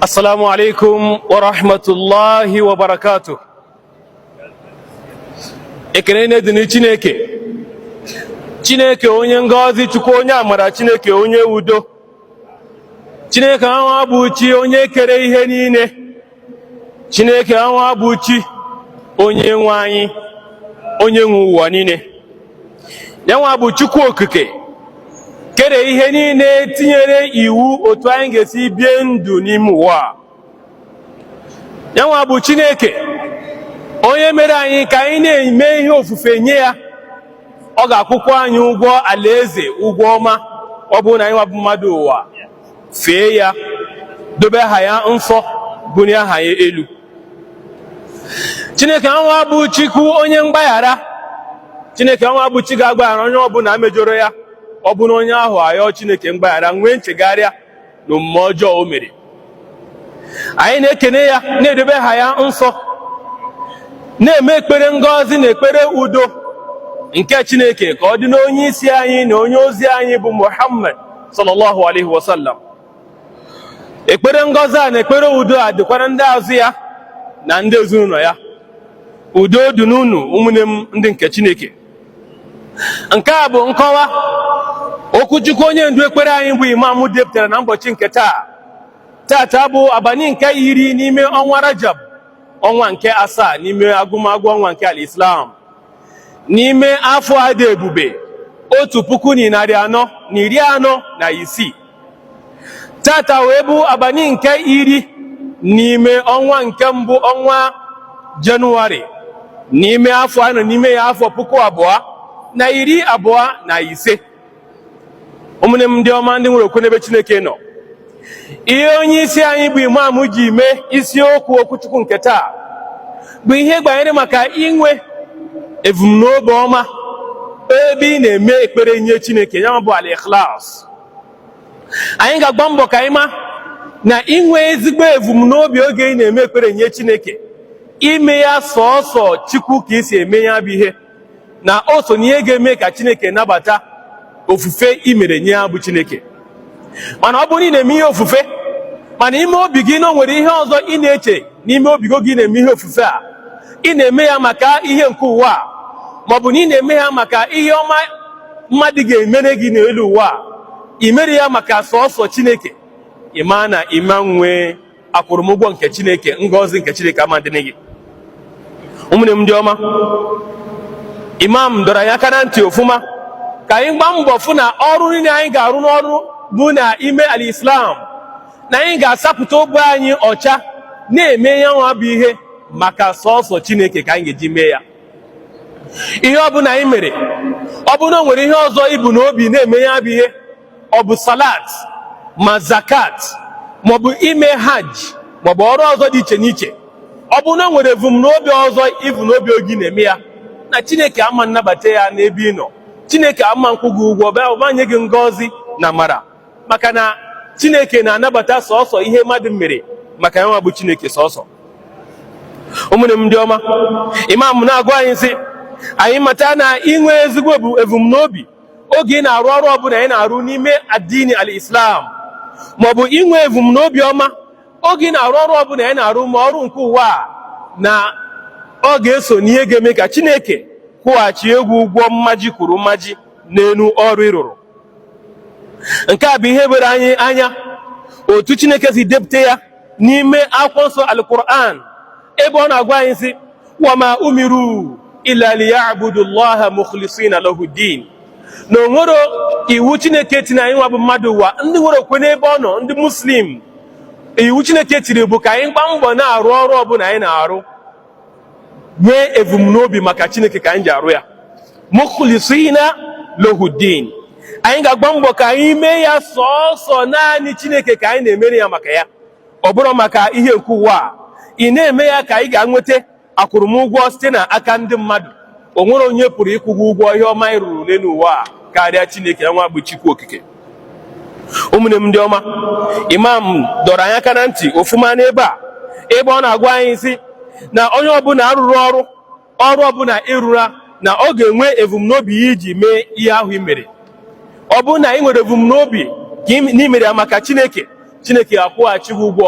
Assalamu alaikum wa rahmatullahi wa barakatuh. Ekene na-adịrị Chineke. Chineke onye ngọzi Chukwu onye amara Chineke onye udo. Chineke anwa bụ chi onye kere ihe niile. Chineke anwa bụ chi onye nwe anyị onye nwe ụwa niile. yanwa bụ Chukwu Okike kere ihe niile tinyere iwu otu anyị ga-esi bie ndụ n'ime ụwa yanwa bụ Chineke onye mere anyị ka anyị na-eme ihe ofufe nye ya ọ ga-akwụkwa anyị ụgwọ alaeze ụgwọ ọma ọ bụrụ na anyị nwa bụ mmadụ ụwa fee ya dobe aha ya nsọ bunie aha ya elu chineke anwa bụ chukwu onye mgbaghara chineke anwa bụ chi ga-agbaghara onye ọbụla mejọrọ ya ọ bụrụ na onye ahụ ayọọ chineke mgbaghara nwee nchegharịa na omume ọjọọ o mere anyị na-ekene ya na-edobe aha ya nsọ na-eme ekpere ngọzi na ekpere udo nke chineke ka ọ dị n'onye isi anyị na onye ozi anyị bụ muhammad sallallahu alaihi wasallam ekpere ngọzi a na ekpere udo a dịkwara ndị azụ ya na ndị ezinụlọ ya udo dị n'unu ụmụnne m ndị nke Chineke nke a bụ nkọwa okwuchukwu onye ndu ekpere anyị bụ imam depụtara na ụbọchị nke taa taata bụ abalị nke iri n'ime ọnwa Rajab ọnwa nke asaa n'ime agụmagụ ọnwa nke al-Islam n'ime afọ a dị ebube otu puku na narị anọ na iri anọ na isii taata wee bụ abalị nke iri n'ime ọnwa nke mbụ ọnwa jenụwarị n'ime afọ a nọ n'ime ya afọ puku abụọ na iri abụọ na ise ụmụnne m ndị ọma ndị nwere okwu n'ebe Chineke nọ ihe onye isi anyị bụ imam ji mee isiokwu okwuchukwu nke taa bụ ihe gbanyere maka inwe ebumnobi ọma ebe ị na-eme ekpere nye Chineke ya bụ al-ikhlas anyị ga-agba mbọ ka anyị ma na inwe ezigbo evumnobi oge ị na-eme ekpere nye Chineke ime ya sọọsọ Chukwu ka i si eme ya bụ ihe na o so na ihe ga-eme ka Chineke nabata ofufe i mere nye ya bụ Chineke mana ọ bụrụ na ị na-eme ihe ofufe mana ime obi gị na o nwere ihe ọzọ ị na-eche n'ime obi gị oge ị na-eme ihe ofufe a ị na-eme ya maka ihe nke ụwa a maọbụ na ị na-eme ya maka ihe ọma mmadụ ga-emere gị n'elu ụwa i mere ya maka sọsọ chineke ị ma na ịma nwee akwụrụmụgwọ nke chineke ngọzi nke chineke ama dịrị gị ụmụnne m ndị ọma imam dọrọ anyị aka na ntị ofụma ka anyị gbaa mbọ fụ na ọrụ niile anyị ga-arụ n'ọrụ bụ na ime al islam na anyị ga-asapụta obi anyị ọcha na-eme ya nwa bụ ihe maka sọsọ chineke ka anyị ga-eji mee ya ihe ọ bụla anyị mere ọ bụrụ na o nwere ihe ọzọ i bu na obi na-eme ya bụ ihe ọ bụ salat ma zakat maọbụ ime hajj maọbụ ọrụ ọzọ dị iche n'iche ọ bụrụ na o nwere ebumnobi ọzọ i bu n'obi oge ị na-eme ya na chineke ama nnabata ya n'ebe ị nọ chineke ama nkwụ gị ụgwọ bịa ọba nye gị ngọzi na amara maka na chineke na-anabata sọsọ ihe mmadụ mere maka ya nwa bụ chineke sọsọ ụmụnne m ndị ọma imam na-agwa anyị sị anyị mata na inwe ezigbo ebumnobi oge ị na-arụ ọrụ ọbụla anyị na-arụ n'ime adini al islam maọbụ inwe ebumnobi ọma oge ị na-arụ ọrụ ọbụla anyị na-arụ ma ọrụ nke ụwa a na ọ ga-eso n'ihe ga-eme ka chineke kwụghachie gị ụgwọ mmaji kwuru mmaji n'elu ọrụ ị rụrụ nke a bụ ihe were anyị anya otu chineke si depụta ya n'ime akwụkwọ nsọ alquran ebe ọ na-agwa anyị sị wama umiru illa liyabudu llaha mukhlisina lahu din na o nwerọ iwu chineke tiri anyị nwa bụ mmadụ ụwa ndị nwere okwe n'ebe ọ nọ ndị muslim iwu chineke tiri bụ ka anyị gbaa mbọ na-arụ ọrụ ọbụla anyị na-arụ nwee ebumnobi maka chineke ka anyị ji arụ ya mukhlisina lahu din anyị ga-agba mbọ ka anyị mee ya sọọsọ naanị chineke ka anyị na-emere ya maka ya ọ bụrụ maka ihe nke ụwa a ị na-eme ya ka anyị ga-enweta akwụrụmụgwọ site na aka ndị mmadụ o nwere onye pụrụ ịkwụ gị ụgwọ ihe ọma ị rụrụ n'elu ụwa a karịa Chineke ya nwa bụ Chukwu Okike ụmụnne m ndị ọma imam dọrọ anyị aka na ntị ofuma n'ebe a ebe ọ na-agwa anyị sị na onye ọbụla rụrụ ọrụ ọrụ ọbụla ị rụra na ọ ga-enwe ebumnobi ya iji mee ihe ahụ i mere ọ bụrụ na ị nwere ebumnobi ka na i mere ya maka Chineke Chineke ga-akwụghachi gị ụgwọ